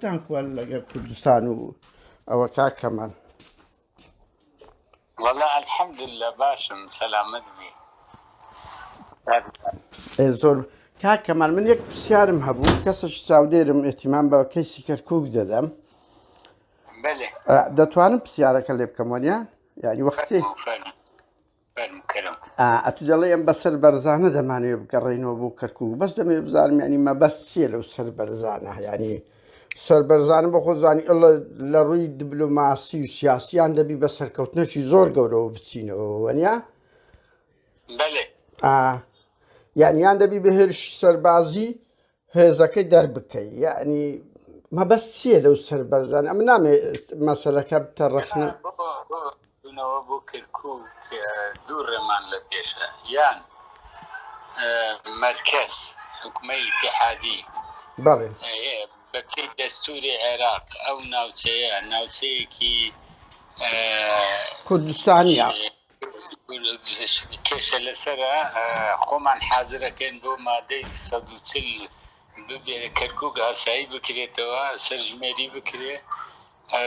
دەم خۆ لەگەر کوردستان و ئەوە کاک کەمال. وەڵا الحمدللە باشم سەلامەت بی. ئێ زۆر کاک کەمال من یەک پرسیارم هەبوو کەسش چاودێرم ئێتیمان بە کەیسی کەرکوک دەدەم بله ئە، دەتوانم پرسیارەکە لێ بکەم وەنیا یعنی وەختی فەرموو فەرموو بەرم کەرم. ئا ئەتو دەڵێی ئەم بەسەر بەرزانە دەمانەوێ بگەڕێینەوە بۆ کەرکوک بەس دەمەوێ بزانم یانی مەبەست چییە لەو سەر بەرزانە یانی سەر بەرزانە بە خۆزانی ئەڵە لە ڕووی دبلوماسی و سیاسیان دەبی بە سەرکەوتنەکی زۆر گەورەوە بچینەوە وەنیا بەێ یانیان دەبی بە هێرش سەربازی هێزەکەی دەربکەی یعنی مەبەست چییە لەو سەر بەرزان ئەم نامێ مەسەلەکە بتە ڕخنە بنەوە بۆ کرکوک دوو ڕێمان لە پێشە یان مەرکەز حکومەی پێحادی بەڵێ بەپی دەستوری عێراق ئەو ناوچەیە ناوچەیەکی کوردستانیە کێشە لەسەرە خۆمان حازرەکەین بۆ مادەی سەد و چل ببێ کەرکوک ئاسایی بکرێتەوە سەرژمێری بکرێ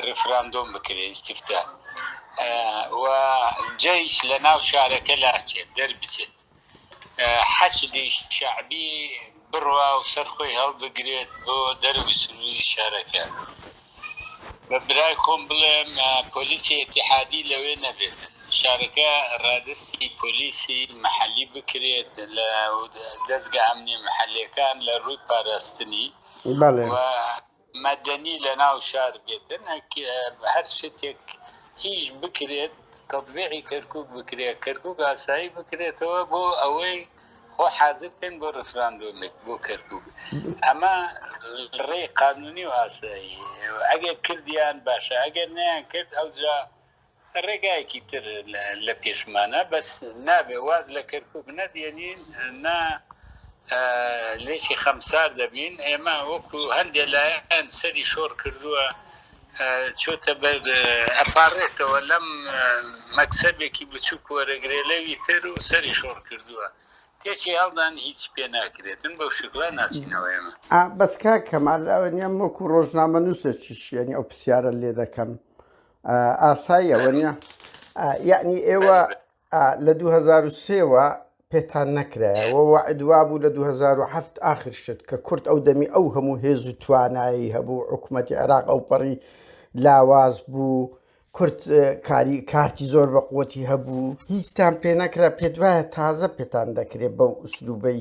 ڕفراندۆم بکرێ ئیسیفتا و جەیش لە ناو شارەکە لاچێت دەربچێت حەشدی شەعبی بڕوا و سەر خۆی هەڵبگرێت بۆ دەرەوەی سنووری شارەکە. بە برای خۆم بڵێم پۆلیسی ئیتیحادی لەوێ نەبێت، شارەکە ڕادەستی پۆلیسی مەحەلی بکرێت لە دەزگا ئەمنییە مەحەلییەکان لە ڕووی پاراستنی و. مەدەنی لە ناو شار بێت هەر شتێک ئیش بکرێت تەتبیعی کەرکوک بکرێت کەرکوک ئاسایی بکرێتەوە بۆ ئەوەی خۆ حازر کەن بۆ ڕفراندۆمێک بۆ کەرکوک ئەمە ڕێی قانونی و ئاسایی ئەگەر کردیان باشە ئەگەر نیان کرد ئەوجا ڕێگایەکی تر لە پێشمانە بەس نابێ واز لە کەرکوک نەدێنین نا لێکی خەمسار دەبین ئێمە وەکو هەندێ لایەن سەری شۆڕ کردووە چۆتە بەر ئەپارێتەوە لەم مەکسەبێکی بچووک وەرەگرێ لەوی تر و سەری شۆڕ کردووە تێکی هەڵدان هیچ پێ ناکرێتن بەو شکلا ناچینەوە ئێمە بەس کاک کەمال ئەوەنیەم وەکو ڕۆژنامە نووسێکیش یعنی ئەو پرسیارە لێ دەکەم ئاساییە وەنیە یعنی ئێوە لە 2023ەوە پێتان نەکرایەوە وعدوا بوو لە 2007 آخر شت کە کورد ئەو دەمی ئەو هەموو هێز و توانایی هەبوو حکوومەتتی عێراق ئەو پەڕی لاواز بوو کورد کاری کارتی زۆر بە قوتی هەبوو هیچتان پێ نەکرا پێت وایە تازە پێتان دەکرێت بەو ئوسلوبەی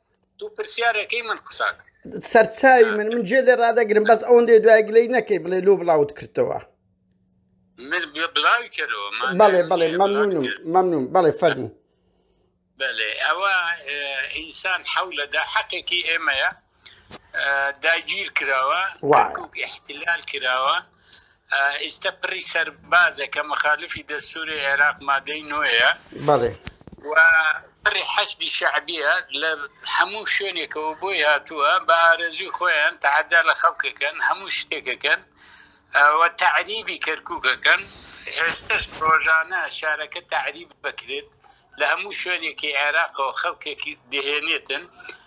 دوو پرسیارەکەی من قساک سەرچاوی من من جێ لێ ڕدەگرم بەس ئەوەندێ دوای گلەی نەکەی بڵێ لۆ بڵاوت کردەوە بەڵێ بەڵێ مەمنونم مەمنون بەڵێ فەرمو بەێ ئەوە ئینسان حولەدا حەقێکی ئێمەیە داگیر کراوە احتلال کراوە ئیستە پڕی سەربازە کە مخالفی دەستوری عێراق مادەی نۆیە و پڕی حەشدی شەعبیە لە هەموو شوێنێکەوە بۆی هاتووە بە ئارەزوی خۆیان تەحەدا لە خەڵکەکەن هەموو شتێکەکەن و تەعریبی کەرکووکەکەن ئێستش ڕۆژانە شارەکە تەعریب بکرێت لە هەموو شوێنێکی عێراقەوە خەڵکێکی دەهێنێتن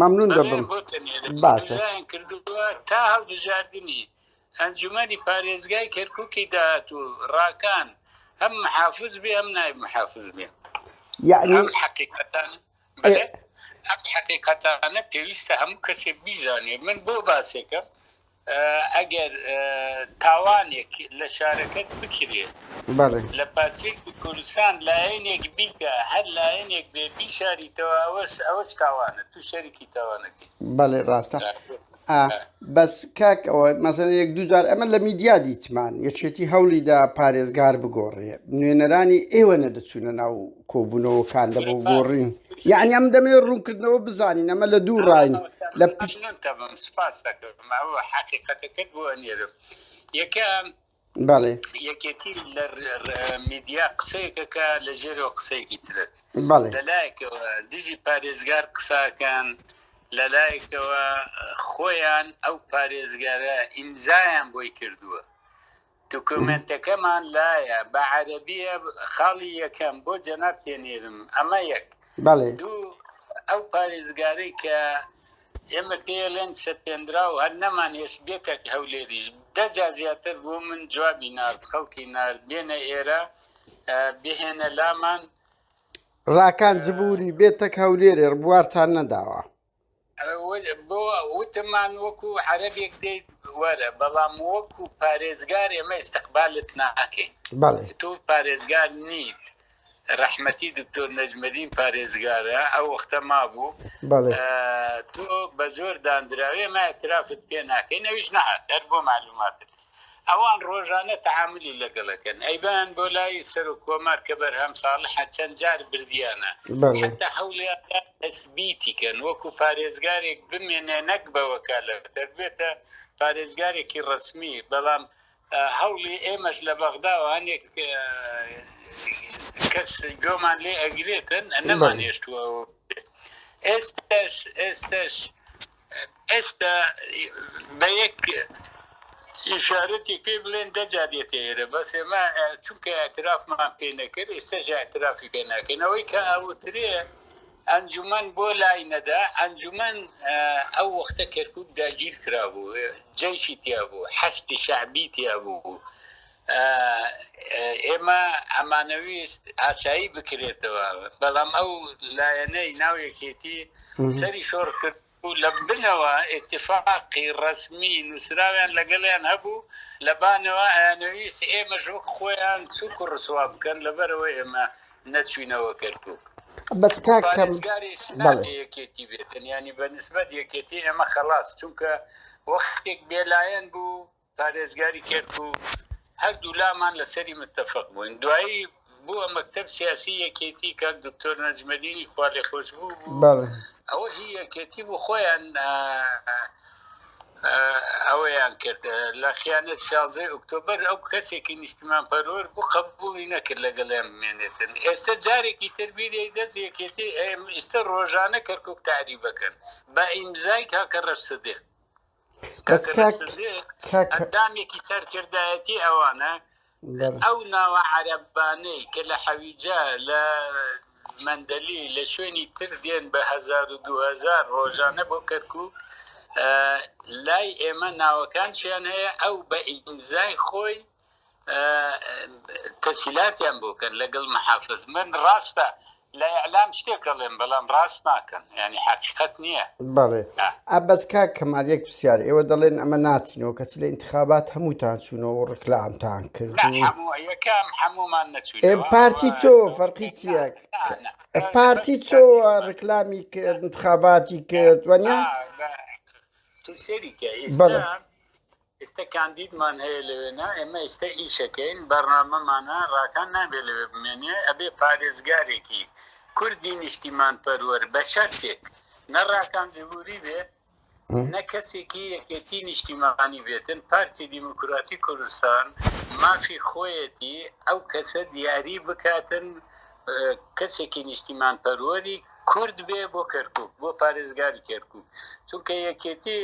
مەمنون دەبم باشە کردووە تا هەڵبژاردننی ئەنجومەنی پارێزگای کەرککی داهات و ڕاکان هەم محافز بێ ئەم نای محافز بێ یعنی ئەم حقیقەتان بڵێ ئەم حقیقەتانە پێویستە هەموو کەسێک بیزانێ من بۆ باسێکم ئەگەر تاوانێک لە شارەکەت بکرێ لە پارچەیەکی کوردستان لایەنێک بیکە هەر لایەنێک بێ بیشاریتەوە ئەوەش ئەوەش تاوانە تو شەریکی تاوانەکەی بەڵێ ڕاستە بەس کاک ئەوە مەسەر یەک دوجار ئەمە لە میدیا دیتمان یەکێتی هەوڵیدا پارێزگار بگۆڕێ نوێنەرانی ئێوە نەدەچوونە ناو کۆبوونەوەکان لە بۆ گۆڕین یعنی ئەم دەمێ ڕوونکردنەوە بزانین ئەمە لە دوو ڕاین لە پشت سپاس حقیقەتەکەت بۆ نێرم یەکەم بەڵێ یەکێتی لە میدیا قسەیەکەکە لە ژێرەوە قسەیەکی ترێت لەلایەکەوە دژی پارێزگار قساکان لەلایەکەوە خۆیان ئەو پارێزگارە ئیمزایان بۆی کردووە دوکومێنتەکەمان لایە بە عەرەبیە خاڵی یەکەم بۆ جەناب تێنێرم ئەمە یەک بەڵێ دوو ئەو پارێزگارەی کە ئێمە پێڵێن سەپێنرا و هەر نەمان هێش بێتە هەولێریش دەجا زیاتر بۆ من جوابی نارد خەڵکی نارد بێنە ئێرە بهێنە لامان ڕاکان جبووری بێتەک هەولێرێ ڕبوارتان نەداوە بۆ وتمان وەکو عەرەبێک دێیت وەرە بەڵام وەکو پارێزگار ئێمە ئستقبالت ناکەین تۆ پارێزگار نیت ڕەحمەتی دکتۆر نەجمەدین پارێزگارە ئەو وەختە مابوو تۆ بە زۆر دانراوێ مە ئەترافت پێ ناکەین ئەوش نهات هەر بۆ معلوماتت ئەوان ڕۆژانە تەعامولی لەگەڵ ئەکەن ئەیبەن بۆ لای سەرۆک کۆمار کە بەرهەم ساڵحە چەند جار بردیانە حەتتا هەوڵیان دا تەسبیتی کەن وەکو پارێزگارێک بمێنێ نەک بە وەکالەتەر بێتە پارێزگارێکی ڕەسمی بەڵام هەوڵی ئێمەش لە بەغداوە هەنێک کەس گۆمان لێ ئەگرێتن نەمانێشتووە ئێستش ئێستش ئێستا بە یەک ئیشارەتێک پێ بڵێن دەجا دێتە ئێرە بەس ئێمە چونکە ئەترافمان پێ نەکرد ئێستاش ئەترافی پێ ناکەین ئەوەی کە ئەوترێ ئەنجومەن بۆ لای نەدا ئەنجومەن ئەو وەختە کەرکک داگیر کرابوو جەیشی تیا بوو حەستی شعبی تیا بوو ئێمە ئەمانەویست ئاسایی بکرێتەوە، بەڵام ئەو لایەنەی ناو یەکێتی سەری شۆڕ کرد و لە بنەوە ئیتیفاقی ڕەسمی نووسراویان لەگەڵیان هەبوو، لە بانەوە ئەیانەویست ئێمەش وەک خۆیان سووک و ڕسوا بکەن، لەبەرئەوەی ئێمە نەچووینەوە کەرکووک. بەس کاک کەمال. پارێزگاریش نابێ یەکێتی بێتن، یانی بە نیسبەت یەکێتی ئێمە خەڵاس، چونکە وەختێک بێلایەن بوو، پارێزگاری کەرکوک هەردوو لامان لەسەری متەفەق بووین دوایی بووە مەکتەب سیاسی یەکێتی کاک دکتۆر نەجمەدینی خوا لێ خۆش بوو بەڵێ ئەوە هی یەکێتی بوو خۆیان ئەوەیان کرد لە خیانەت شازەی ئۆکتۆبەر ئەو کەسێکی نیشتمان پەرۆر بوو قبولی نەکرد لەگەڵیان بمێنێتن ئێستا جارێکی تربیری دەست یەکێتی ئێستا ڕۆژانە کەرکک تاری بکەن بە ئیمزای کاکە ڕەش سدیق بەس کاک کاک ئەندامێکی سەرکردایەتی ئەوانە ئەو ناوە عەرەبانەی کە لە حەویجە لە مندەلی لە شوێنی تر دێن بە 2000 ڕۆژانە بۆ کەرکک لای ئێمە ناوەکان چیان هەیە ئەو بە ئیمزای خۆی تەسیلاتیان بۆ کەن لەگەڵ محافز من ڕاستە لە ئیعلام شتێک ئەڵێم بەڵام ڕاست ناکەن یانی حەقیقەت نییە بەڵێ ئا بەس کاک کەمال یەک پرسیار ئێوە دەڵێن ئەمە ناچینەوە کەچی لە ئینتخابات هەمووتان چوونەوە و ڕکلامتان کرد نا و هەموو یەکەم هەموومان ئێ نەچوینەوە پارتی چۆ فەرقی چییە پارتی چۆ ڕکلامی کرد انتخاباتی کرد وەنیا تو سەریکە بەڵێ. ئێستا ئیستە کاندیدمان هەیە لەوێ نا ئێمە ئیستە ئیشەکەین بەرنامەمانە ڕاکان نابێ لەوێ بمێنێ ئەبێ پارێزگارێکی کوردی نیشتیمان پەروەر بە شەرتێک نە ڕاکان جبوری بێ نە کەسێکی یەکێتی نیشتیمانی بێتن پارتی دیموکراتی کوردستان مافی خۆیەتی ئەو کەسە دیاری بکاتن کەسێکی نیشتیمان پەروەری کورد بێ بۆ کەرکک بۆ پارێزگاری کەرکک چونکە یەکێتی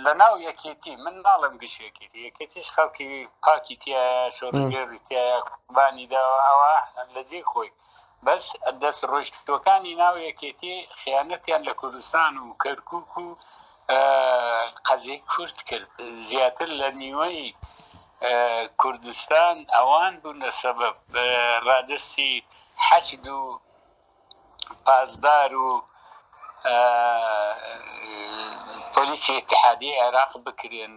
لە ناو یەکێتی من ناڵم گشێکی یەکێتیش خەڵکی پاکی تایە شۆڕگێری تایە قوبانی داوە ئەوە لە جێ خۆی بەس دەست ڕۆشتەکانی ناو یەکێتی خیانەتیان لە کوردستان و کەرکک و قەزی کورد کرد زیاتر لە نیوەی کوردستان ئەوان بوون لە سەبەب ڕادستی حەشد و پاسدار و پۆلیسی ئتحادی عێراق بکرێن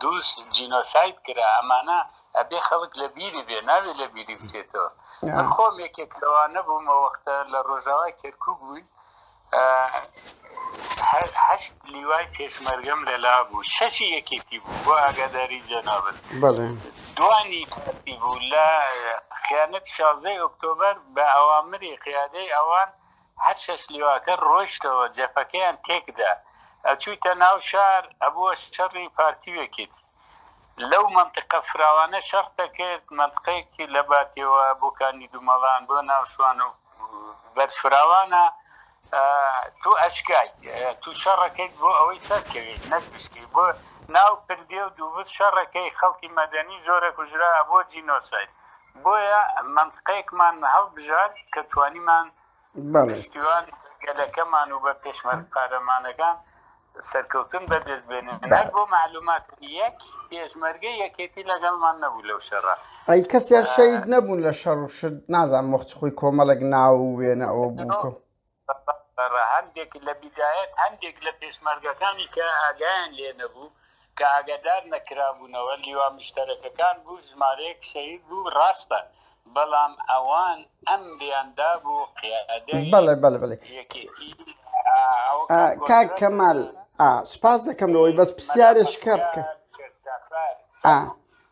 دووس جینۆسایت کرا ئەمانە ئەبێ خەڵک لە بیری بێ ناوێت لە بیری بچێتەوە خۆم یەکێک لەوانە بوومە وەختە لە ڕۆژاوای کەرکک بووین هەشت لیوای پێشمەرگەم لە لا بوو شەشی یەکێتی بوو بۆ ئاگاداری جەنابەت دوانی کاتی بوو لە خیانەت شازەی ئۆکتۆبەر بە ئەوامری قیادەی ئەوان هەر شەش لیواکە ڕۆشتەوە جەپەکەیان تێکدا ئەچوویتە ناو شار ئەبووە شەڕی پارتی وێکێتی لەو مەنتقە فراوانە شەڕ دەکرد، مەنتقەیەکی لە باتێوە بۆ کانی دومەڵان بۆ ناو شوان و بەر فراوانە، تۆ ئەشکایت تۆ شەڕەکەیت بۆ ئەوەی سەرکەوێیت نەک بشکێیت، بۆ ناو پردێ و دووبز شەڕەکەی خەڵکی مەدەنی زۆرە کوژرا ئەبووە جینۆساید، بۆیە مەنتقەیەکمان هەڵبژارد کە توانیمان پشتیوان گەلەکەمان و بە پێشمەرگ قارەمانەکان سەرکەوتن بەدەست بێنن هەر بۆ معلومات یەک پێشمەرگە یەکێتی لەگەڵمان نەبوو لەو شەڕە ئەی کەسیان شەید نەبوون لە شەڕ و شت نازان مخت خۆی کۆمەڵێک ناو و وێنە ئەوە بووکە هەندێک لە بیدایەت هەندێک لە پێشمەرگەکانی کە ئاگایان لێ نەبوو کە ئاگادار نەکرابوونەوە لیوا مشتەرەکەکان بوو ژمارەیەک شەهید بوو ڕاستە بەڵام ئەوان ئەمریان دابوو قیادەی بەڵێ بەڵێ بەڵێ یەکێتی ئا کاک کەمال ئا سوپاس دەکەم لەوەی بەس پرسیارێک شکا بکە ئا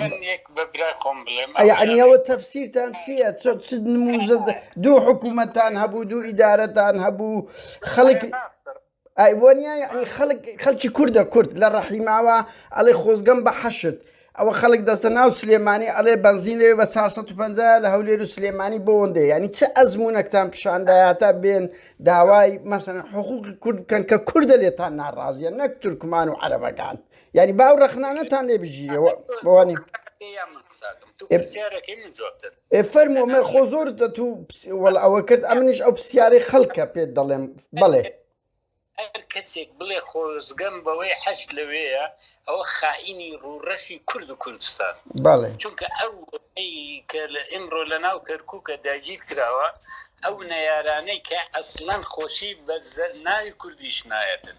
من یەک بە برای خۆم بڵێم ئەویانەوە تەفسیرتان چییە چۆ چ نموزە دوو حکوومەتان هەبوو دوو ئیدارەتان هەبوو خەڵک ئایوانیا یعنی خەڵک خەڵکی کوردە کورد لە ڕەحیماوە ئەڵێ خۆزگەم بە حەشت ئەوە خەڵک دەستە ناو سلێمانی ئەڵێ بەنزین لێ بە 450 لە هەولێر و سلێمانی بۆندێ ینی چه ئەزمونونەکتان پیشاندایاتە بێن داوای مەسەن حقوقی کورد بکەن کە کوردە لێتان ناڕازیە نەک تورکمان و عەرەبەکان یعنی با ئەو ڕەخنانەتان لێ بگیرەوە بەوانی ئێ فەرمۆمە خۆ زۆر دەت و وەڵ ئەوە کرد ئەمنیش ئەو پرسیارەی خەڵکە پێت دەڵێم بڵێ هەر کەسێک بڵێ خۆزگەم بەوەی حەج لەوەیە ئەوە خائینی ڕوڕەشی کورد و کوردستان بەڵێ چونکە ئەو کە لە ئمڕۆ لە ناو کەرکووکە داگیر کراوە ئەو نەیارانەی کە ئەسلەن خۆشی بە ناوی کوردیش نایەتن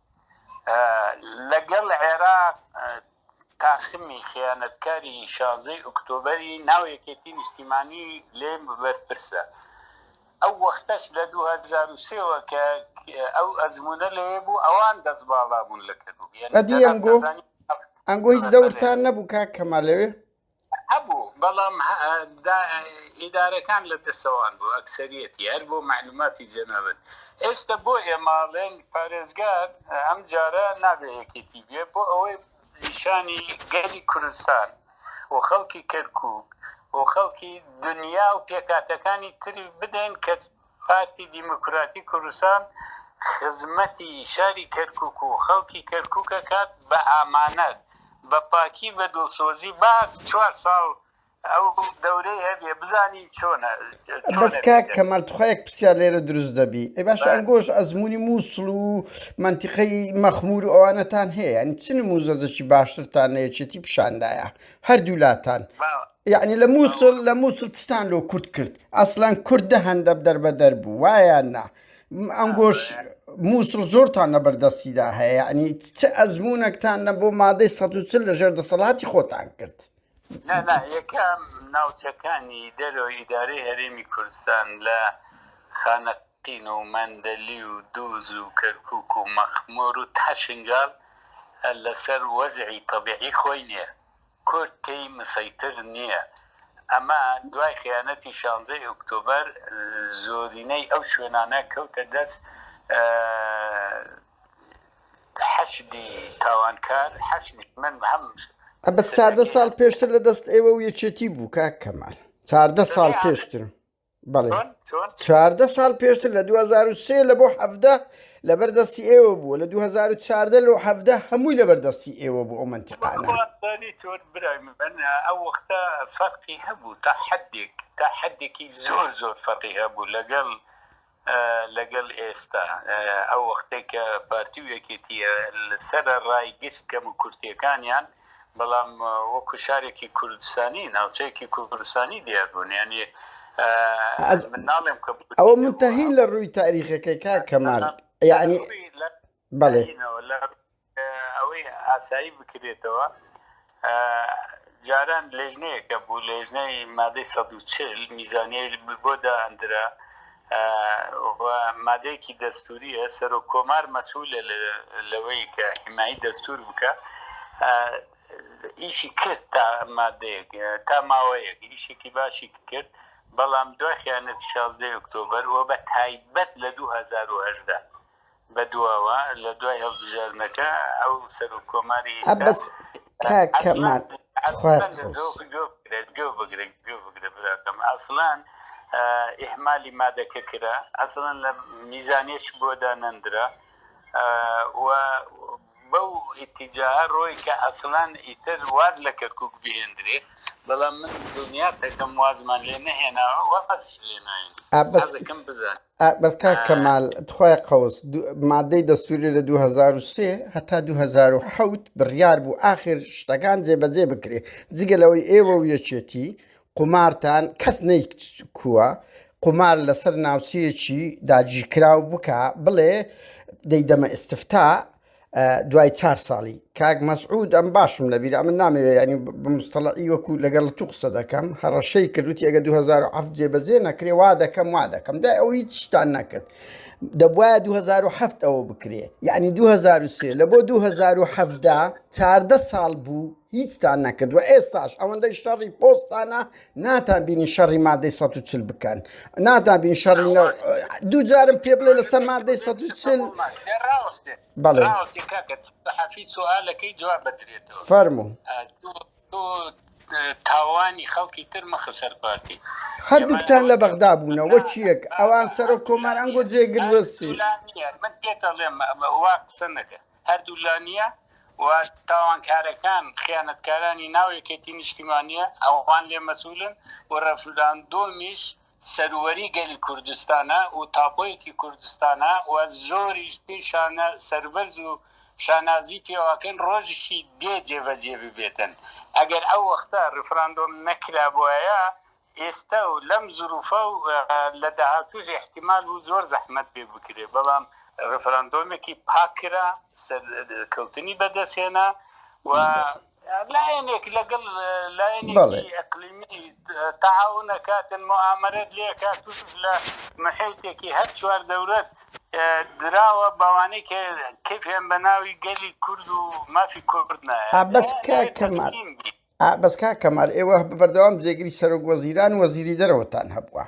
لەگەڵ عێراق تاخمی خیانەتکاری شازەی ئۆکتۆبری ناو یەکێتی نیشتیمانی لێ بەرپرسە ئەو وەختەش لە 2023ەوە کە ئەو ئەزمونە لێ بوو ئەوان دەست باڵا بوون لە کردو ئەنگۆ هیچ دەورتان نەبوو کاک کەمال لەوێ هەبوو بەڵام ئیدارەکان لە دەسەوان بوو ئەکسەریەتی هەر بۆ معلوماتی جەنابت ئێستا بۆ ئێماڵێن پارێزگار ئەم جارە نابێ یەکێتی بێ بۆ ئەوەی نیشانی گەلی کوردستان و خەڵکی کەرکک و خەڵکی دنیا و پێکاتەکانی تری بدەین کە پارتی دیموکراتی کوردستان خزمەتی شاری کەرکوک و خەڵکی کەرکوک ئەکات بە ئامانەت بە پاکی بە دڵسۆزی با چوار ساڵ ئەو دەورەی هەبێ بزانین چۆنە چۆنە بەس کاک بێت. کەمال توخوا یەک پرسیار لێرە دروست دەبی ئەی باشە بەر. ئەنگۆش ئەزموونی موسڵ و مەنتیقەی مەخمور و ئەوانەتان هەیە یانی چ نموزەجەکی باشترتان لە یەکێتی پیشان دایە هەردوو لاتان با یەعنی لە مووسڵ لە مووسڵ چتان لۆ کورد کرد ئەسلان کورد دە هەندە دەربەدەر بوو وایە نا م- ئەنگۆش مووسڵ زۆرتان لە بەردەستیدا هەیە یعنی چ ئەزمونونەکتان نە بۆ مادەی ١ۊ٠ لە ژێر دەسەڵاتی خۆتان کرد نا نا یەکەم ناوچەکانی دەرەوە ئیدارەی هەرێمی کوردستان لە خانەقین و مەندەلی و دووز و کەرکوک و مەخمۆر و تا شنگال لەسەر وەزعی تەبیعی خۆی نیە کورد تێی مسەیتر نییە. ئەمە دوای خیانەتی شانزەی ئۆکتۆبەر زۆرینەی ئەو شوێنانە کەوتە دەست حەشدی تاوانکار. ئەبەس چاردە ساڵ پێشتر لە دەست ئێوە و یەکێتی بوو کاک کەمال. چاردە ساڵ پێشتر. بەڵێ چواردە ساڵ پێشتر لە 2023 لە بۆ حەفدە لەبەر دەستی ئێوە بووە لە 2014 لۆ حەفدە هەمووی لەبەر دەستی ئێوە بوو ئەو منتیقانە ئەو وەختە فەرقی هەبوو تا حدێک تا حدێکی زۆر زۆر فەرقی هەبوو لەگەڵ لەگەڵ ئێستا ئەو وەختەی کە پارتی و یەکێتیە سەرە ڕای گشت کەم و کورتیەکانیان بەڵام وەکو شارێکی کوردستانی ناوچەیەکی کوردستانی دیار بوون یعنی ئەوە منتەهین لە ڕووی تاریخەکەی کا کەمال یعنی بەڵێ ئەوەی ئاسایی بکرێتەوە جاران لێژنەیەکە بوو لێژنەی مادەی سەد و چل میزانیە بۆ دائەندرا مادەیەکی دەستوریە سەرۆک کۆمار مەسوولە لەوەی کە حیمایی دەستور بکە ئیشی کرد تا مادەیەک تا ماوەیەک ئیشێکی باشی کرد بەڵام دوای خیانەت 16 ئۆکتۆبر و بە تایبەت لە 2010 بەدواوە لە دوای هەڵبژاردنەکە ئەو سەرۆک کۆماری بەس کاکە مارد گوێ بگرن گوێ بگرە براکەم ئاسڵان ئهمالی مادەکە کرا ئەسڵەن لە میزانێش بۆدا نەندرا و بەو ئیتیجا ڕۆی کە ئەسڵان ئیتر واز لە کەرکک بهێندرێ بەڵام من دنیا دەکەم وازمان لێ نەهێناوە وەقەت لێناین بەسەکەم بزانێت بەس کاک کەمال تخوای قەوس دو- مادەی دەستوری لە 2023 هەتا 2007 بڕیار بوو ئاخر شتەکان جێبەجێ بکرێ جگە لەوەی ئێوە و یەکێتی قومارتان کەس نەیکووە قومار لەسەر ناوچەیەکی داگیرکراو بکە بڵێ دەیدەمە ئستفتا دوای چار ساڵی کاک مەسعود ئەم باشم لە بیرا من نامەوێ ینی بمستەڵی وەکو لەگەڵ تو قسە دەکەم هەڕەشەی کردوتی ئەگە 2007 جێبەجێ نەکرێ وا دەکەم وا دەکەم دای ئەو هیچ شتان نەکرد دەبواە 2007 ئەوە بکرێ یعنی 2023 لە بۆ 2017 چاردە ساڵ بوو هیچتان نەکردوە ئێستاش ئەوەندەی شەڕی پۆستانە ناتان بینی شەڕی مادەی 140 بکەن ناتان بین شەڕ دوو جارم پێ بڵێ لەسەر مادەی 140 بەڵێ حەفی سوالەکەی جواب بدرێتەوە فەرمو تاوانی خەڵکی تر مەخسەر پارتی هەردووکتان لە بەغدا بوونە وەچیەک ئەوان سەرۆک کۆمار ئەنگۆ جێگرسی من پێتەڵێم وا قسە نەکە هەردوو لا نییە و تاوانکارەکان خیانەتکارانی ناو یەکێتی نیشتیمانییە ئەوان لێ مەسولن و ڕەفراندۆمیش سەروەری گەلی کوردستانە و تاپۆیەکی کوردستانە و زۆریش پێی شانە سەربەرز و شانازی پێواکەین ڕۆژیشی دێ جێبەجێ ببێتن ئەگەر ئەو وەختە ڕفراندۆم نەکرابوایە ئێستا و لەم زروفە و لە داهاتووش ئیحتیمال بوو زۆر زەحمەت بێ بکرێ بەڵام ڕیفراندۆمێکی پاک کرا سەرکەوتنی بەدەست هێنا و لایەنێک لەگەڵ لایەنێکی ئەقلیمی تەعاون ئەکاتن موئامەرەت لێ ئەکا تووش لە محیتێکی هەر چوار دەورەت دراوە بەوانەی کە کەیفیان بە ناوی گەلی کورد و مافی کورد نایە بەس کاک کەمال ئا بەس کاک کەمال ئێوە بەردەوام جێگری سەرۆک وەزیران وەزیری دەرەوەتان هەبووە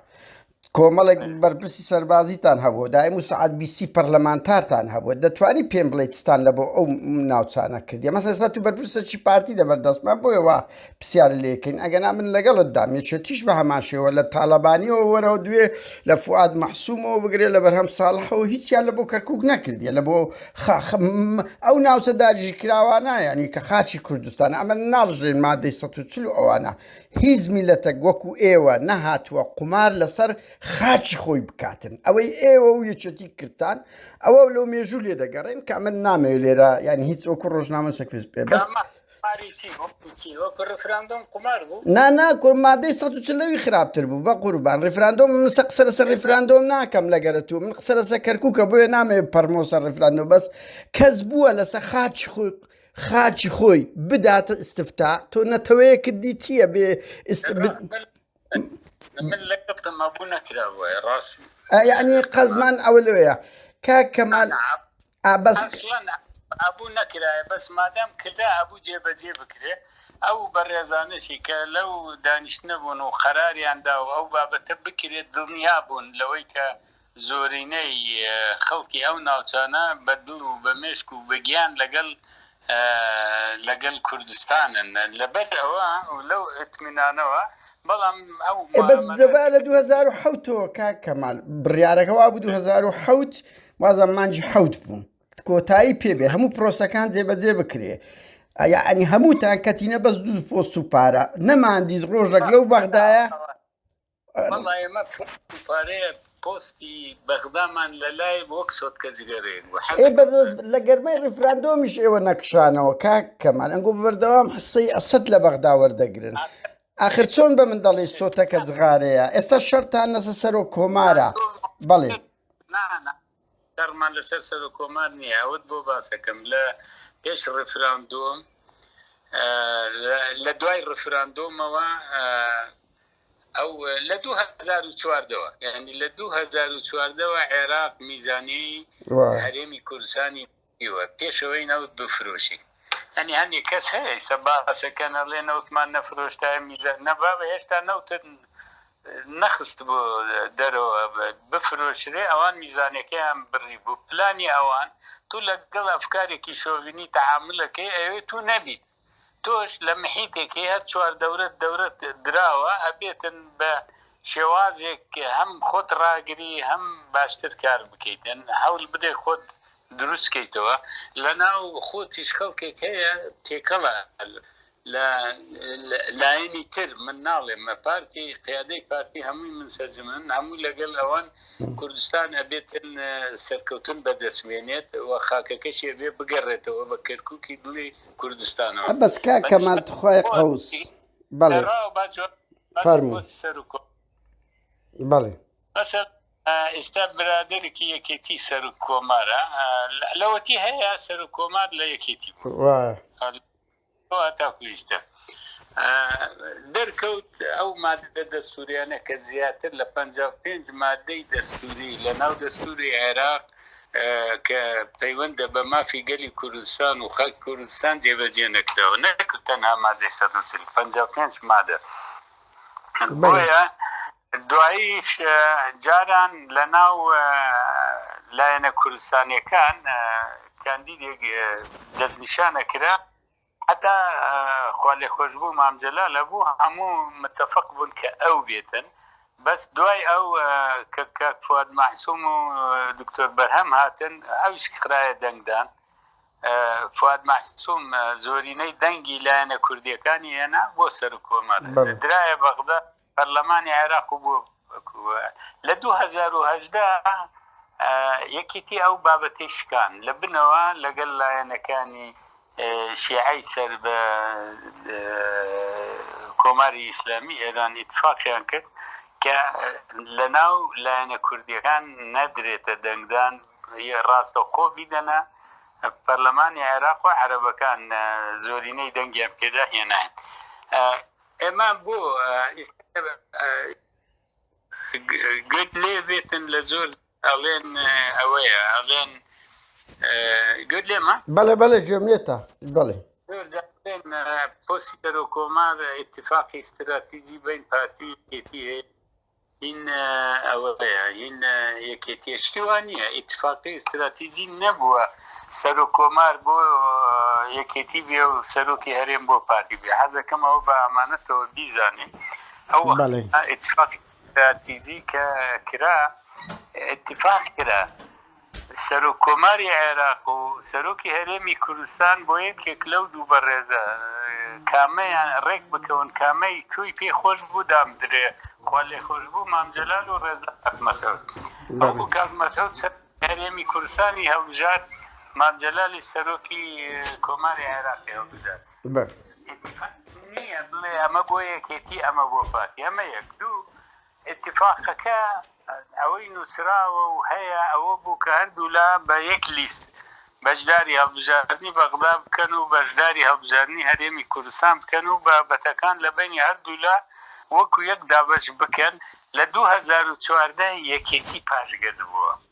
کۆمەڵێک بەرپرسی سەربازیتان هەبوو دایم و سعات بیسی پەرلەمانتارتان هەبوو دەتوانی پێم بڵێتستان لە بۆ ئەو ناوچانە کردی مەسەسا تو بەرپرسەکی پارتی لە بەردەستمان بۆیەوە پرسیار لێکن ئەگەنا من لەگەڵت دام یەکێتیش بە هەمان شێوە لە تاالبانیەوە وەرەوە دوێ لە فعاد محسوومەوە بگرێت لە بەرهەم ساڵحەوە هیچیان لە بۆ کەرکک نەکردیە لە بۆ خاخم ئەو ناوچە داگیرکراوانە یانی کە خاکی کوردستانە ئەمە ناڕژێن مادەی سەد و چل و ئەوانە هیچ میلەتەک وەکو ئێوە نەهاتووە قومار لەسەر خاکی خۆی بکاتن ئەوەی ئێوە و یەکێتی کردتان ئەوە لەو مێژوو لێ دەگەڕێن کە ئەمە نامەوێت لێرە یانی هیچ وەکو ڕۆژنامە سەکوێز پێ بەس نا نا کورە مادەی سەد و چل لەوی خراپتر بوو بە قوربان ڕیفراندۆم من سە قسە لەسەر ڕیفراندۆم ناکەم لەگەرە تو من قسە لەسەر کەرکووکە بۆیە نامێ پەرمۆ سەر ڕیفراندۆم بەس کەس بووە لەسەر خاچی خۆی خاچی خۆی بداتە ئستفتا تۆ نەتەوەیەکت دی چییە بێ ئست ب- من لە کەپتم مەبوو نەکرا بۆیە ڕاست یعنی قەزمان ئەوە لەوەیە کاک کەمال ئەسڵەن ئەبوو نەکرایە بەس مادام کرا ئەبوو جێ بەجێ بکرێ ئەو بەڕێزانەشی کە لەو دانیشتنە بوون و قەراریان دا و ئەو بابەتە بکرێت دڵنیا بوون لەوەی کە زۆرینەی خەڵکی ئەو ناوچانە بە دڵ و بە مێشک و بە گیان لەگەڵ لەگەڵ کوردستانن لەبەر ئەوە لەو ئتمینانەوە بەڵام ئەو بەس دەبا لە 2007ەوە کاک کەمال بڕیارەکە وا بوو 2007 وازە مانج حەوت بوون کۆتایی پێبێ هەموو پرۆسەکان جێبەجێ بکرێ ئەنی هەمووتان کەتینە بەس دوو پۆست و پارە نەماندیت ڕۆژەک لەو بەغدایە پۆستی بەغدامان لە لای وەک سۆتکە جگەرێن لە گەرمای ڕفراندۆمیش ئێوە نەکشانەوە کاک کەمان ئەنگۆ بەردەوام حسەی ئەسد لە بەغدا وەردەگرن آخر چۆن بە من دەڵێ سۆتەکە جغارەیە ئێستا شەرتان نەسە سەرۆک کۆمارە بەڵێ نا نا شەڕمان لەسەر سەرۆک کۆمار نییە ئەوەت بۆ باسەکەم لە پێش ڕفراندۆم لە دوای ڕفراندۆمەوە ئەو لە 2014ەوە ینی لە 2014ەوە عێراق میزانی هەرێمی کوردستانی ئیوە پێش ئەوەی نەوت بفرۆشین یانی هەنێ کەس هەیە ئیستا باس ئەکەن ئەڵێ نەوتمان نەفرۆشتایە میزان نە بابە هێشتا نەوتت نەخستبوو دەرەوە بفرۆشرێ ئەوان میزانەکەیان بڕی بوو پلانی ئەوان تو لەگەڵ ئەفکارێکی شۆڤینی تەعامل ئەکەی ئەوێ تو نەبیت تۆش لە محیتێکی هەر چوار دەورەت دەورەت دراوە ئەبێتن بە شێوازێک هەم خۆت ڕاگری هەم باشتر کار بکەیتن هەول بدەی خۆت دروست کەیتەوە لە ناو خۆتیش خەڵکێک هەیە تێکەڵە لە لایەنی تر من ناڵێم مە پارتی قیادەی پارتی هەمووی من سەرجمن هەموو لەگەل ئەوان کوردستان ئەبێتن سەرکەوتن بەدەستمێنێت و خاکەکەشێ بێ بگەڕێتەوە بە کەرککی دڵی کوردستانەوە بەس کاک کەمال تخوای قەوس بەڵێ فەرموو بەڵێ مەسەر ئێستا برادێکی یەکێتی سەر و کۆمارە لەوەتی هەیە سەر و کۆمار لە یەکێتی تاکویستە دەرکەوت ئەو ماددە دەستوریانە کە زیاتر لە 55 مادەی دەستوری لە ناو دەستوری عێراق کە پەیوەندە بە مافی گەلی کوردستان و خەک کوردستان جێبەجێ نەکراوە نەک تەنها مادەی 155 مادە بۆیە دواییش جاران لە ناو لایەنە کوردستانیەکان کاندیدێک دەستنیشانە کرا حەتا خوالێخۆشبوو مام جەلال ئەبوو هەموو متەفەق بوون کە ئەو بێتن بەس دوای ئەو کە کاک فواد مەحسوم و دکتۆر بەرهەم هاتن ئەویش خرایە دەنگدان فواد مەحسوم زۆرینەی دەنگی لایەنە کوردیەکانی هێنا بۆ سەر کۆمار درایە بەغدا پەرلەمانی عێراق و بۆ لە دوو هەزار و هەژدە یەکیتی ئەو بابەتی شکان لە بنەوە لەگەل لایەنەکانی شیعی سەر بە کۆماری ئیسلامی ئێران ئیتفاقیان کرد کە لە ناو لایەنە کوردیەکان نەدرێتە دەنگدان ڕاستە قۆ بیدەنە پەرلەمانی عێراق و عەربەکان زۆرینەی دەنگیان پێدا هێناین ئەمە بۆ گوێت لێ بێتن لە زۆر ئەڵێن ئەوەیە ئەڵێن گوێت لێمە بەڵێ بەڵێ گوێم لێتە بەڵێ پۆسی دەرۆ کۆمار اتفاقی استراتیجی بین پارتی یەکێتی هەیە هین ئەوەیە هین یەکێتیشتی وان نییە ئیتفاقی استراتیجی نەبووە سەر و کۆمار بۆ یەکێتی بێ و سەرۆکی هەرێم بۆ پارتی بێ حەزەکەم ئەوە بە ئەمانەتەوە بیزانین ئەو ئیتفاقی استراتیجی کە کرا اتفاق کرا سەرۆک کۆماری عێراق و سەرۆکی هەرێمی کوردستان بۆ یەکێک لەو دوو بەڕێزە کامەیان ڕێک بکەون کامەی کوی پێ خۆش بوو دام درێ خوا لێ خۆش بوو مام جەلال و ڕێزا کاک مەسعود بەڵکو کاک مەسعود هەرێمی کوردستانی هەڵبژارد مام جەلالی سەرۆکی کۆماری عێراقی هەڵبژارد نییە بڵێ ئەمە بۆ یەکێتی ئەمە بۆ پارتی ئەمە یەک دوو ئیتیفاقەکە ئەوەی نووسراوە و هەیە ئەوە بوو کە هەردوولا بە یەک لیست بەشداری هەڵبژاردنی بەغدا بکەن و بەشداری هەڵبژاردنی هەرێمی کوردستان بکەن و بابەتەکان لە بەینی هەردوولا وەکو یەک دابەش بکەن، لە دوو هەزار و چواردە یەکێتی پاشگەز بووە.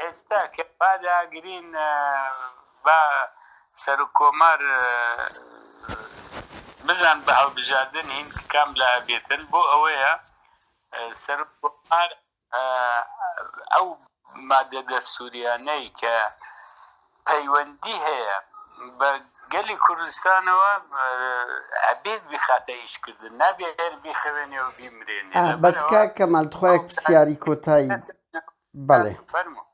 ئێستا کە پاداگرین با سەرۆک کۆمار بزان بە هەڵبژاردن هین کام لا ئەبێتن بۆ ئەوەیە سەرۆک کۆمار ئەو مادە دەستوریانەی کە پەیوەندی هەیە بە گەلی کوردستانەوە ئەبێت بخاتە ئیشکردن نابێت هەر بخەوێنێ و بیمرێنێ بەس کاک کەمال تخوا یەک پرسیاری کۆتایی بەڵێ فەرموو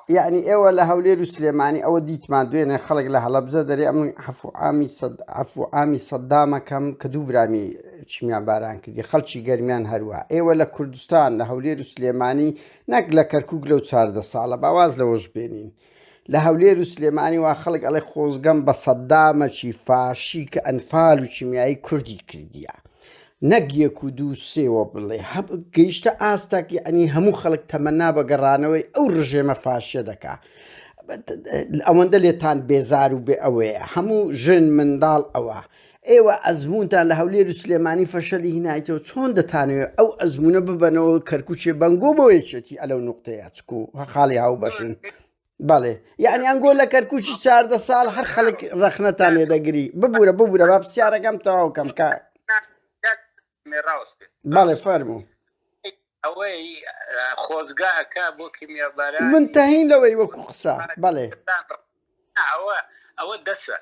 یعنی ئێوە لە هەولێر و سلێمانی ئەوە دیتمان دوێنێ خەڵک لە هەڵەبزە دەرێ ئەم حەفعامی ئەفعامی سەددامەکەم کە دوو برامی چیمیان باران کردی خەڵکی گەرمیان هەروە ئێوە لە کوردستان لە هەولێر و سلێمانی نەک لە کەرکک لەو چاردە ساڵە باواز لەوەش بێنین لە هەولێر و سلێمانی وا خەڵک ئەڵێ خۆزگەم بە سەدامەکی فاشی کە ئەنفال و کیمیایی کوردی کردیە نەک یەک و دوو سێوە بڵێ هەب گەیشتە ئاستاک یعنی هەموو خەڵک تەمەنا بە گەڕانەوەی ئەو ڕژێمە فاشە دەکا ئەوەندە لێتان بێزار و بێ ئەوەیە هەموو ژن منداڵ ئەوە ئێوە ئەزموونتان لە هەولێر و سلێمانی فەشەلی هینایتەوە چۆن دەتانەوێت ئەو ئەزمونە ببەنەوە کەرکوچێ بەنگۆ بۆ یەکێتی ئەلەو نقطەیە چکو خاڵی هاو بەشن بەڵێ یعنی ئەنگۆ لە کەرکوچی چاردە ساڵ هەر خەڵک ڕەخنەتان لێ دەگری ببوورە ببوورە با پرسیارەکەم تەواوکەم کە بەڵێ فەرمو ئەوەی خۆزگا ئەک بۆ کیمیابارە من تەهین لەوەی وەکو قسە بەڵێ ئەوە ئەوە دەسە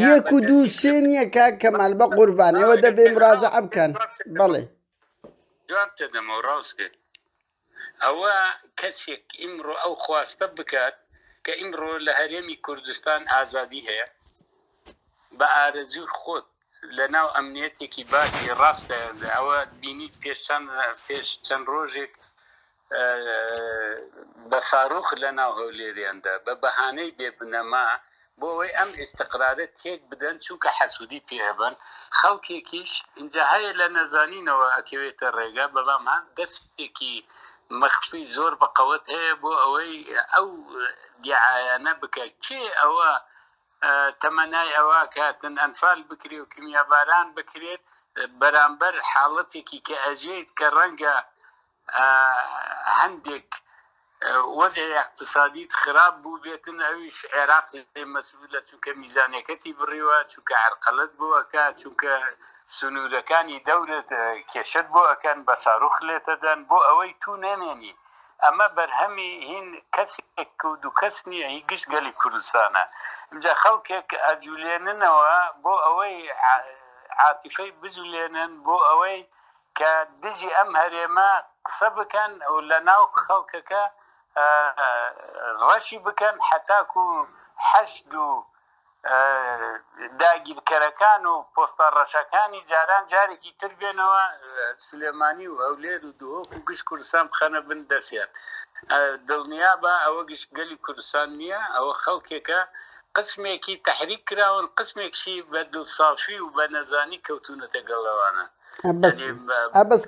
یەک و دوو سێ نییە کاک کەمال بە قوربان ئێوە دەبێ مراجعە بکەن بەڵێ جواب دەدەمەوە ڕاستێت ئەوە کەسێک ئیمڕۆ ئەو خواستە بکات کە ئیمڕۆ لە هەرێمی کوردستان ئازادی هەیە بە ئارەزوی خۆت لە ناو ئەمنیەتێکی باشی ڕاستە ئەوە بینیت پێش چەند پێش چەند ڕۆژێک بە ساروخ لە ناو هەولێریاندا بە بەهانەی بێ بنەما بۆ ئەوەی ئەم ئیسقرارە تێک بدەن چونکە حەسوودی پێبن خەڵکێکیش اینجا هەیە لە نەزانینەوە ئەکەوێتە ڕێگا بەڵام هەم دەستێکی مەخفی زۆر بەقەوەت هەیە بۆ ئەوەی ئەو دیعاەنە بکە کێ ئەوە تەمەنای ئەوە کە تەنئەنفال بکرێ و کیمیاباران بکرێت بەرامبەر حاڵەتێکی کە ئەژێیت کە ڕەنگە هەندێک وەزع اقتصادیت خراپ بوو بێتن ئەویش عێراق مەسئولە چونکە میزانەکەتی بڕیوە چونکە عرقەلت بووەکە چونکە سنوورەکانی دەورت کێشت بۆ ئەەکەن بە ساروخ لێتەدەن بۆ ئەوەی تو نەمێنیت ئەمە بەرهەمی هین کەسێک و دوو کەس نییە، هی گشت گەلی کوردستانە. ئینجا خەڵکێک ئەجولێننەوە بۆ ئەوەی عاتیفەی بجولێنن بۆ ئەوەی کە دژی ئەم هەرێمە قسە بکەن و لە ناو خەڵکەکە ڕەشی بکەن هەتاکوو حەشد و داگیرکەرەکان و پۆستە ڕەشەکانی جاران جارێکی تر بێنەوە سلێمانی و هەولێر و دهۆک و گشت کوردستان بخەنە بن دەستیان دڵنیابە ئەوە گشت گەلی کوردستان نییە ئەوە خەڵکێکە قسمێکی تەحریک کراون قسمێکشی بە دڵسافی و بە نەزانی کەوتونەتە گەڵ ئەوانە. ئەبەس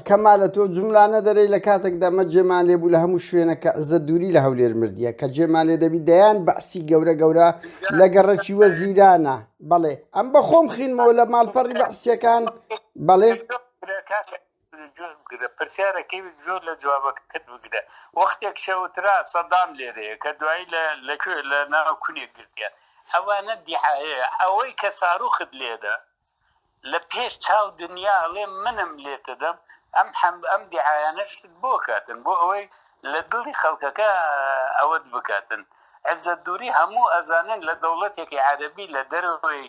کەمالە تۆ جملانە دەرەی لە کاتێک دەمە جێمان لێ بوو لە هەموو شوێنە کە عزە دووری لە هەولێر مردیە کە جێمان لێ دەبی دەیان بەعسی گەورە گەورە لە گەڕەکی وە زیرانە بەڵێ ئەم بە خۆم خینمەوە لە ماڵپەڕی بەعسیەکان بەڵێ بگرە پرسیارەکەی زۆر لە جوابەکەت بگرە وەختێک شەوترا سەدام لێرەیە کە دوایی لە لەکوێ لە ناو کونێک گرتیان ئەوانە دیحاەیە ئەوەی کە ساروخت لێدە لە پێش چاو دنیا ئەڵێ منم لێت دەدەم ئەم حەم ئەم دیعایانە شتت بۆ کاتن بۆ ئەوەی لە دڵی خەڵکەکە ئەوەت بکاتن عزەت دوری هەموو ئەزانن لە دەوڵەتێکی عەرەبی لە دەرەوەی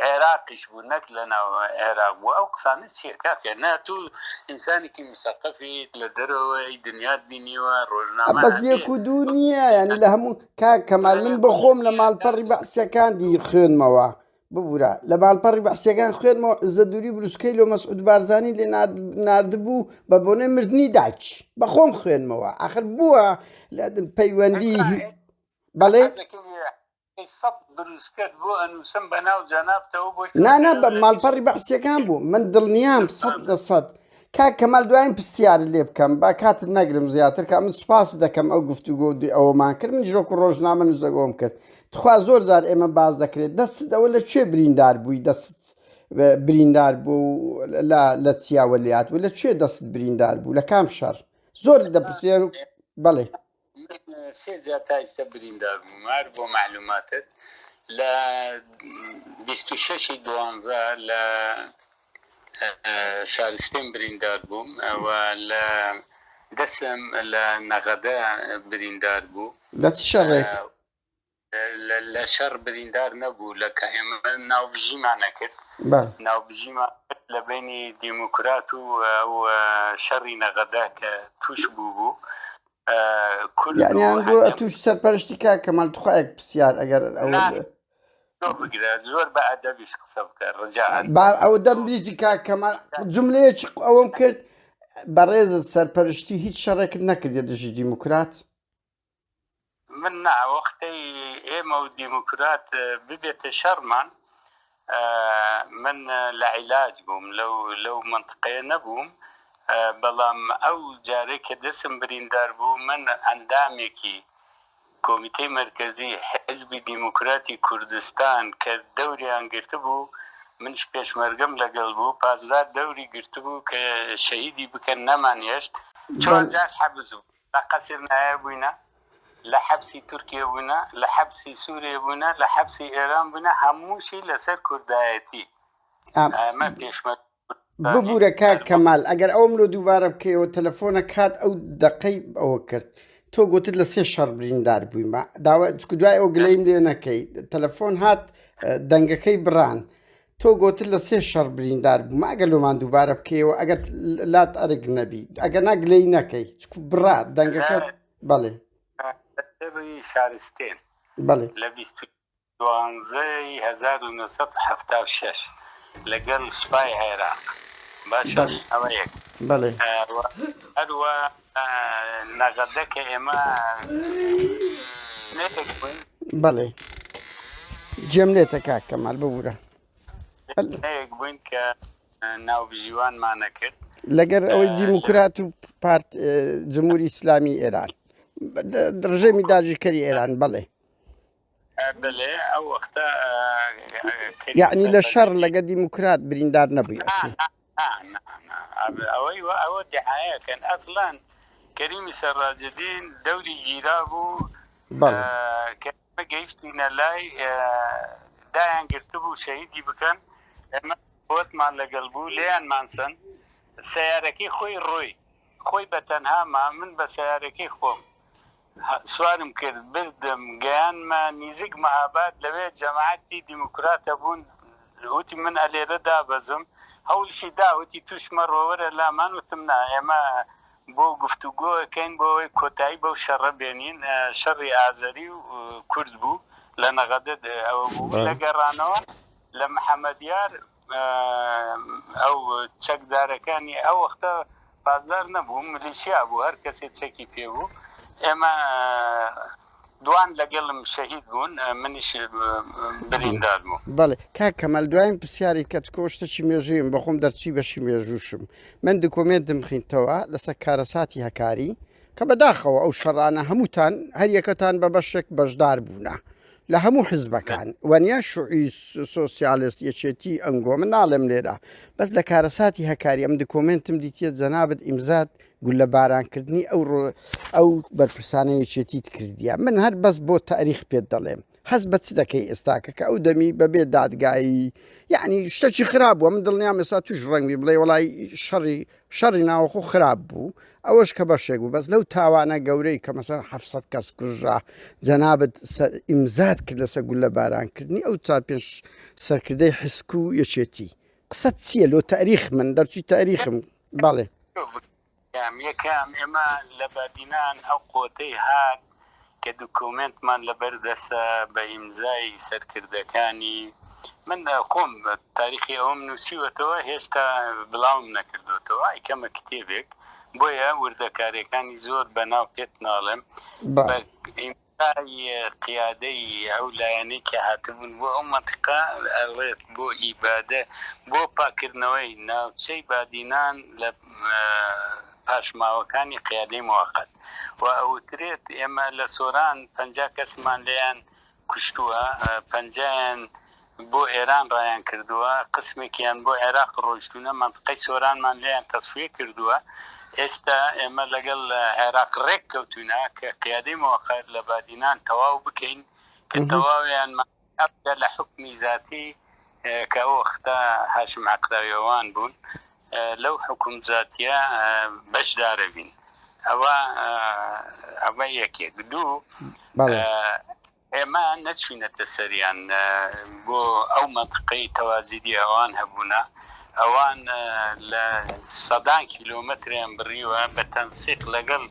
عێراقیش بوو نەک لە ناو عێراق بوو ئەو قسانە چیە کاکە نا تو ئینسانێکی مسەقەفیت لە دەرەوەی دنیات بینیوە ڕۆژنامە بەس یەک و دوو نییە ینی لە هەموو کاک کەمال من بە خۆم لە ماڵپەڕی بەعسیەکاندی خوێنمەوە ببورە لە ماڵپەڕی بەعسیەکان خوێنمەوە عزە دووری بروسکەی لۆ مەسعود بارزانی لێ نردبوو بە بۆنێ مردنی داچ بەخۆم خوێنمەوە ئەخر بووە لە پەیوەندی بەڵێ بروسکەت بۆ ئەنووسم بە ناو جەنابتەوە بۆی نانە بە ماڵپەڕی بەعسیەکان بوو من دڵنیام سەد لە سەد کاک کەمال دواین پرسیارت لێ بکەم با کاتت نەگرم زیاتر کە من سوپاست دەکەم ئەو گفتوگۆ و دوی ئەوەمان کرد من ژۆک و ڕۆژنامە نوزەگۆم کرد تخوا زۆر جار ئێمە باس دەکرێت دەستت ئەوە لە کوێ بریندار بووی دەست بریندار بوو لە چیاوە لات و لە کوێ دەست بریندار بوو لە کام شەر زۆر دەپرسێر بەڵێ سێ جار تا ئیستا بریندار بووم هەر بۆ معلوماتت لە بیست و شەشی دوانزە لە شارستێن بریندار بووم و لە دەسم لە نەغەدە بریندار بوو لە چ شەڕێک؟ لەشەڕ بریندار نەبوو لە کە ئێمە ناوبژیمان نەکرد ناوبژیمان لە بینی دیموکرات و شەڕی نەغەدە کە توش بوو بوو کوردیان گوڵ توش سەرپەرشتی کا کەمال تخواێک پرسیار ئەگەر بگرە زۆر بە ئەدەبیش قسە بکە ڕجا ئەو دەم بریتی کا کەمال جملەیەکی ئەوەم کرد بەڕێزت سەرپەرشتی هیچ شەڕێکت نەکردێت دژی دیموکرات من نا وەختەی ئێمە و دیموکرات ببێتە شەڕمان من لە عیلاج بووم لەو لەو منتقەیە نەبووم بەڵام ئەو جارێک کە دەسم بریندار بوو من ئەندامێکی کۆمیتەی مرکزی حزبی دیموکراتی کوردستان کە دەوریان گرت بوو منش پێشمەرگەم لەگەڵ بوو پازدار دەوری گرت بوو کە شەهیدی بکەن نەمان هێشت چوار جاش حەبس بوو لە قەسر نایە بووینە، لە حەبسی تورکیە بووینە، لە حەبسی سوریە بووینە، لە حەبسی ئێران بووینە، هەمووشی لەسەر کوردایەتی. ئەمە پێشمەرگە کوردستانی. ببورە کاک کەمال ئەگەر ئەوەم لۆ دووبارە بکەیەوە تەلەفۆنە کات ئەو دەقەی ئەوە کرد تۆ گۆتت لە سێ شەڕ بریندار بوویمە داوا چکو دوای ئەو گلەیم لێ نەکەی تەلەفۆن هات دەنگەکەی بڕان تۆ گۆتت لە سێ شەڕ بریندار بوومە ئەگەر لۆمان دووبارە بکەیەوە ئەگەر لات ئەرک نەبی ئەگەر ناگلەی نەکەی چکو بڕا دەنگەکە بەڵێ شارستێن بەڵێ لە دوانزەی 1970 لەگەڵ سوپای عێراق باشە ئەوەیەک بەڵێ هەروە نەغەدە کە ئێمە بەڵێ جێم لێتە کاک کەمال ببوورە بووین کە ناوبژیوانمانە کرد لەگەر ئەوەی دیموکرات و پارت جمهوری ئیسلامی ئێران ڕژێمی داژیکەری ئێران بڵێ یەعنی لە شەڕ لەگە دیموکرات بریندار نەبوویت کەریمی سەرڕاجدین دەوری گیرا بوو گەیشتینە لای دایان گرتبوو شەهیدی بکەن ئەمە وەتمان لەگەڵ بوو لێیان مانسن سیارەکەی خۆی ڕۆی خۆی بە تەنهاما من بە سیارەکەی خۆم سوارم کرد بردم گەیانمە نیزیک مەهاباد لەوێ جەماعەتی دیموکرات هەبوون وتی من ئەلێرە دابەزم هەوڵیشی دا وتی توش مەڕۆ وەرە لامان وتم نا ئێمە بۆ گفتوگۆ ئەکەین بۆ ئەوەی کۆتایی بەو شەڕە بێنین شەڕی ئازەری و کورد بوو لە نەغەدە ئەوە بوو لە گەڕانەوە لە محەمەدیار ئەو چەکدارەکانی ئەو وەختە پاسدار نەبوو ملیشیا بوو هەر کەسێ چەکی پێ بوو ئێمە دوان لەگەڵم شەهید بوون منیش بریندار بوو بەڵێ کاک کەمەل دوایم پرسیاری کەت کۆشتەکی مێژویم بەخۆم دەرچی بەشی مێژووشم من دکۆمێنتم خینتەوە لەسەر کارەساتی هەکاری کە بەداخەوە ئەو شەڕانە هەمووتان هەریەکەتان بە بەشێک بەشدار بوونە لە هەموو حزبەکان وەنیا شوعی سۆسیالست یەکێتی ئەنگۆ من ناڵێم لێرە بەس لە کارەساتی هەکاری ئەم دکۆمنتم دیتیە جەنابەت ئیمزاد گول لە بارانکردنی ئەو ڕۆ ئەو بەرپرسانە یەکێتیت کردیە من هەر بەس بۆ تاریخ پێت دەڵێم هەز بە چ دەکەی ئێستاکە کە ئەو دەمی بەبێ دادگایی یعنی شتەکی خراپ بووە من دڵنیام ئێستا توش ڕەنگی بڵێ وڵی شەڕی شەڕی ناوەخۆ خراپ بوو ئەوەش کە بەشێک بوو بەس لەو تاوانە گەورەی کە مەسەن حەفت سەد کەس کوژرا جەنابت ئیمزات کرد لەسە گولە باران کردنی ئەو چار پێنج سەرکردەی حسک و یەکێتی قسە چییە لۆ تاریخ من دەرچوی تاریخم بەڵێ یەکەم ئێمە لە بادینان ئەو قوتەی هات کە دکۆمێنتمان لە بەر دەسە بە ئیمزای سەرکردەکانی من خۆم تاریخی ئەوم نووسیوەتەوە هێشتا بڵاوم نەکردوتەوە ئای کەمە کتێبێک بۆیە وردەکارەکانی زۆر بە ناو پێت ناڵێم قیادەی ئەو لایەنەی کە هاتبوون بۆ ئەو منتیقا ئەڵێت بۆ ئیبادە بۆ پاکردنەوەی ناوچەی بادینان لە پاشماوەکانی قیادەی موەقەت و ئەوترێت ئێمە لە سۆران پەنجا کەسمان لێیان کوشتووە، پەنجایان بۆ ئێران ڕایان کردووە، قسمێکیان بۆ عێراق ڕۆیشتوونە، مەنتقەی سۆرانمان لێیان تەسفیە کردووە، ئێستا ئێمە لەگەڵ عێراق ڕێک کەوتوونە کە قیادەی موەقەت لە بادینان تەواو بکەین کە تەواویانمان. ئەبدە لە حوکمی زاتی کە ئەو وەختە هاشم عەقراویەوان بوون لەو حوکم زاتیە بەشدارە بین ئەوە ئەمە یەکێک دوو ئێمە نەچوینەتە سەریان بۆ ئەو منطقەی تەوازیدی ئەوان هەبوونا ئەوان لە سەدان کیلۆمەتریان بڕیوە بە تەنسیق لەگەڵ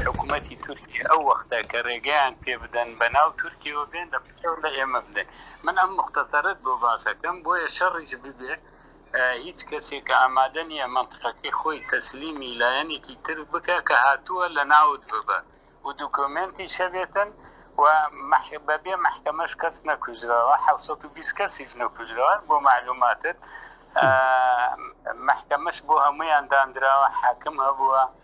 حکوومەتتی تورکی ئەو وەختە کە ڕێگەیان پێ بدەن بە ناو تورکیەوە بێن لە تۆ لە ئێمە بلێ من ئەم موختەسەرەت بۆ باسەکەم بۆیە شەڕیش ببێ هیچ کەسێک کە ئامادە نییە مەنتقەکەی خۆی تەسلیمی لایەنێکی تر بکە کە هاتووە لە ناوت ببە و دوکۆمێنتی شەبێتن و بەبێ محکەمەش کەس نەکوژراوە 1920 کەسیش نەکوژراوە بۆ معلوماتت محکەمەش بۆ هەمویان دانراوە حاکم هەبووە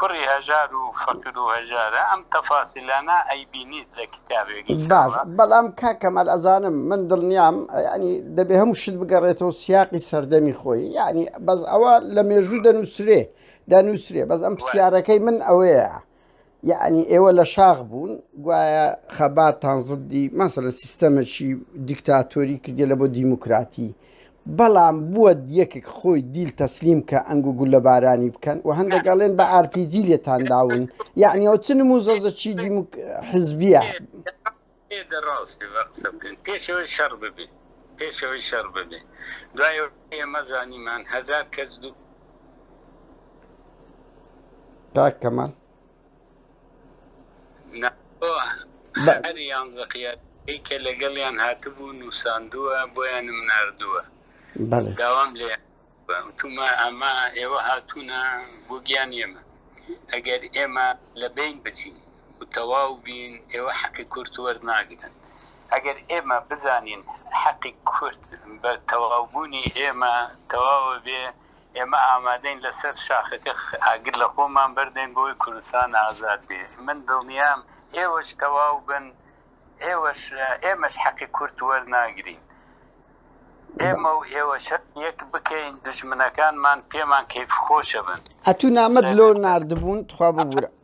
کوڕی هەژار و فەقیر و هەژارە ئەم تەفاسیلانە ئەیبینیت لە کیتابێکی باش بەڵام کاک کەمال ئەزانم من دڵنیام یعنی دەبێ هەموو شت بگەڕێتەوە سیاقی سەردەمی خۆی یعنی بەس ئەوە لە مێژوو دەنووسرێ دەنووسرێ بەس ئەم پرسیارەکەی من ئەوەیە یعنی ئێوە لە شاخ بوون گوایە خەباتان زدی ماسە لە سیستەمەکی دیکتاتۆری کردێ لە بۆ دیموکراتی بەڵام بوە یەکک خۆی دیل تەسلیم کە ئەنگ و گولە بارانی بکەن و هەندێک ئەڵێن بە ئارپیجی لێتان داون یعنی ئەو چ نمو زەزە چی دیموک حزبیە دەڕاست قسە بکەن پێشەوەی شەڕ ببێ پێشەوەی شەڕ ببێ دوای ئێمە زانیمان هزار کەس دوو تاکەمان هەر یانزە قیادەی کە لەگەڵیان هاتبوو نووساندووە بۆیانم نردووە داوام لێ تومە ئەمە ئێوە هاتوونە بۆ گیان ئێمە ئەگەر ئێمە لە بین بچین و تەواو بین ئێوە حەقی کورت وەرناگرن ئەگەر ئێمە بزانین حەقی کورت بە تەواوبوونی ئێمە تەواوە بێ ئێمە ئامادەین لەسەر شاخەکە ئاگر لە خۆمان بەردەین بۆی کوردستان ئازاد بێ من دڵنیام ئێوەش تەواو بن ئێوەش ئێمەش حەقی کورد وەرناگرین ئێمە و ئێوەش یەک بکەین دژمنەکانمان پێمان کەیف خۆشە بن ئەتوو نامە دلۆ نردبوون تخوا ببوورە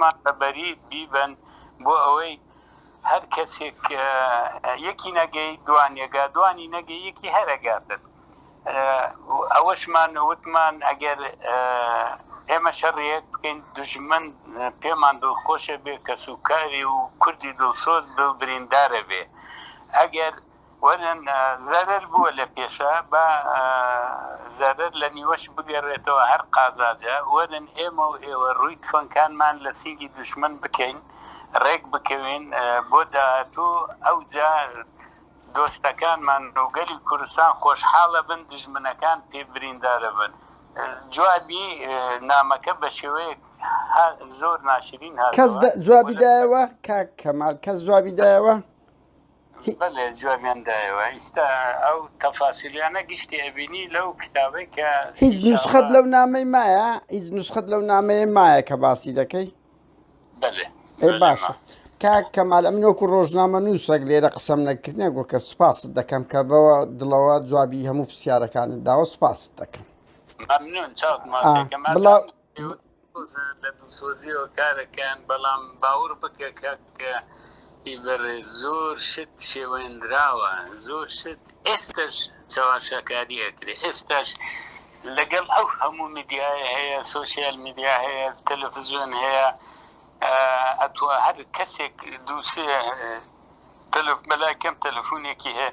مان بە بەریت بیبەن بۆ ئەوەی هەر کەسێک یەکی نەگەی دوانێگا دوانی نەگەی یەکی هەرەگاتن ئەوەشمان وتمان ئەگەر ئێمە شەڕیەک بکەین دژمن پێمان دڵخۆشە بێ کەس و کاری و کوردی دڵسۆز بە بریندارە بێ ئەگەر وەرن زەرەر بووە لە پێشا با زەرەر لە نیوەش بگەرێتەوە هەر قازاجە وەرن ئێمە و ئێوە ڕووی تفەنگکانمان لە سینگی دوشمن بکەین ڕێک بکەوین بۆ داهاتوو ئەوجا دۆستەکانمان و گەلی کوردستان خۆشحاڵە بن دوژمنەکان پێ بریندارە بن جوابی نامەکە بە شێوەیەک زۆر ناشرین هاتەوە. کەس جوابی دایەوە کاک کەمال کەس جوابی دایەوە؟ بەلێ جوابیان دایەوە ئیستا ئەو تەفاسیلیانە گشتی ئەبینی لەو کتابەی کە هیچ نوسخەت لەو نامەی مایە هیچ نوسخەت لەو نامەیە مایە کە باسی دەکەی بەلێ ئەی باشە کاک کەمال ئەم نۆکو ڕۆژنامە نووسەک لێرە قسەم نەکردە گۆکە سوپاست دەکەم کە بەوە دڵەوە جوابی هەموو پرسیارەکانت داوە سوپاست دەکەم بڵاو دڵسۆزە لە دڵسۆزیەوە کارەکەیان بەڵام باوڕ بکە کاکە ی بەڕێز زۆر شت شێوێندراوە زۆر شت ئێستەش چەواشەکاری ئەکرێ ئێستاش لەگەڵ ئەو هەموو میدیایە هەیە سۆشیال میدیا هەیە تەلەفزیۆن هەیە ئەتوە هەر کەسێک دووسێ تەلەف بەلای کەم تەلەفونێکی هەیە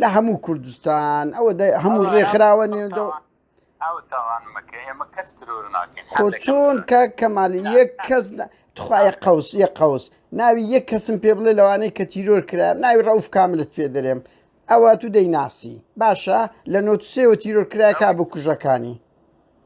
لە هەموو کوردستان ئەوە هەموو ڕێکخراوە نێودە خۆ چۆن کاک کەمال یەک کەس تخوایە قوس یە قوس ناوی یەک کەسم پێ بڵێ لەوانەیە کە تیرۆر کرا ناوی ڕەوف کاملت پێ دەرێم ئەوە تو دەیناسی باشە لە نۆتسێەوە تیرۆر کرایکا بکوژەکانی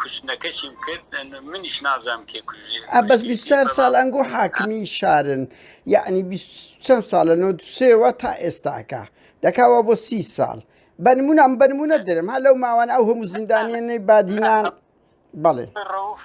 کوشتنەکەشیم کرد منیش نازانم کێ کوژێ ئە بەس کوشتێتی 24 بەڵام ساڵ ئەنگۆ حاکمی شارن یعنی 20 چەند ساڵە 93ەوە تا ئێستاکە دەکاوە بۆ سی ساڵ بەنمونە ئەم بەنمونە درم هە لەو ماوانە ئەو هەموو زیندانیانەی بادینان بەڵێ ڕەوف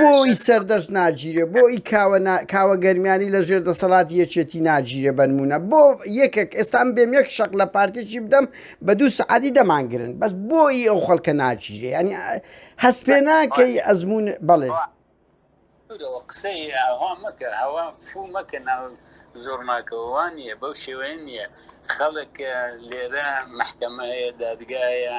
بۆ ئی سەردەشت ناگیرێ بۆ ئی کاوە کاوە گەرمیانی لە ژێر دەسەڵاتی یەکێتی ناگیرێ بەنمونە بۆ یەکێک ئێستان بێم یەک شەق لە پارتێکی بدەم بە دوو سعادی دەمانگرن بەس بۆ ئی ئەو خەڵکە ناگیرێ ینی هەست پێ ناکەی ئەزمون بەڵێ قسەی ئاوا مەکە ئاوا فوو مەکە ناو زۆرناکەوەوان نیە بەو شێوەیە نیە خەڵک لێرە محکەمەیە دادگایە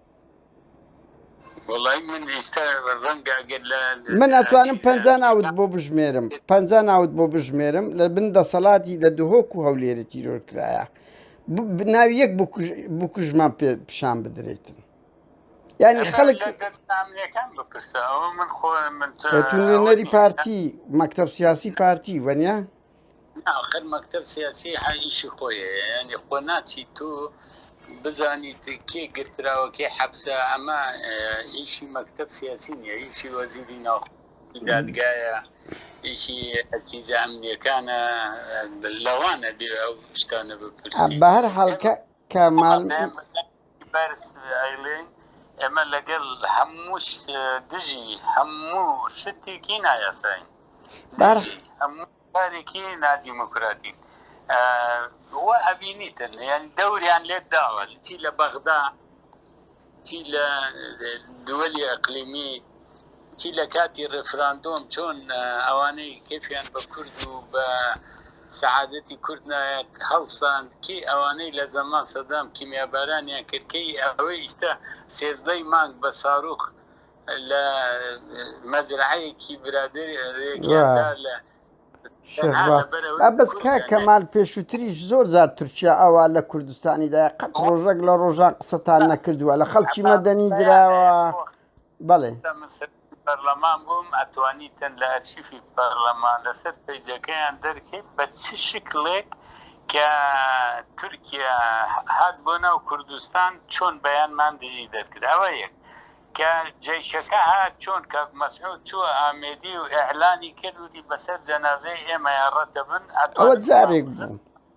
من ئەتوانم پ ناوت بۆ بژمێرم پ ناوت بۆ بژمێرم لە بن دەسەڵاتی لە دهۆک و هەولێرە تیرۆر کرایە ناوی یەک بکوژمان پێ پیشان بدرێتن ینی خەڵک نەری پارتی مەکتب سیاسی پارتی وەنە ئاخر مەکتەب سیاسی هە ئیشی خۆیە یعنی خۆ ناچی تو بزانیت کێ گرتراوە کێ حەبسە ئەمە ئیشی مەکتەب سیاسی نیە ئیشی وەزیری ناو دادگایە ئیشی ئەسیزە ئەمنیەکانە لەوانە بێ ئەو شتانە بپرسی بە هەر حاڵکە کە مال بەرز ئەیڵێن ئێمە لەگەڵ هەمووش دژی هەموو شتێکی نایاساین هەموو کارێکی نادیموکراتین و ئەبینیتن یان دەوریان لێت داوە چی لە بەغدا چی لە دووەلی ئەقلیمی چی لە کاتی ڕێفراندۆم چۆن ئەوانەی کەفیان بە کورد و بە سەعادەتی کورد نایەت هەڵساند کی ئەوانەی لە زەمان سەدام کیمیابارانیان کرد کەی ئەوەی ئیستا سێزدەی مانگ بە ساروخ لە مەزرعەیەکی برادێکیاندا لە بەس کا کەمال پێشووتریش زۆر زار تورکیا ئەوە لە کوردستانیدا قەت ڕۆژەک لە ڕۆژان قسەتان نەکردووە لە خەڵکی مەدەنی دراوە بەڵێ. کە من سەرۆکی پەرلەمان بووم ئەتوانیتن لە ئەرشیفی پەرلەمان لەسەر پەیجەکەیان دەرکەیت بە چ شکلێک کە تورکیا هات بۆ ناو کوردستان چۆن بەیانمان دژی دەرکرد ئەوە یەک کە جەیشەکە هات چۆن کاک مەسعود چووە ئامێدی و ئیعلانی کرد وتی بەسەر جەنازەی ئێمەیان ڕەتەبن ئەتوانن ئەوە جارێک بوو.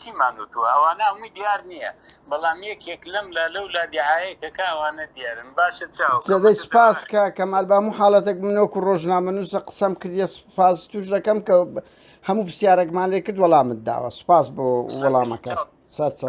چیمان وتوە ئەوانە هەمووی دیار نیە بەڵام یەکێک لەم لا لەو لا دیعایە کەکا ئەوانە دیارن باشە چاو کەمە دەی سپاس کاک کەمال بامو حاڵەتێک من وەکو ڕۆژنامەنووسە قسەم کردە سپاس توش دەکەم کە هەموو پرسیارێکمان لێ کرد وەڵامت داوە سپاس بۆ وەڵامەکە سەرچە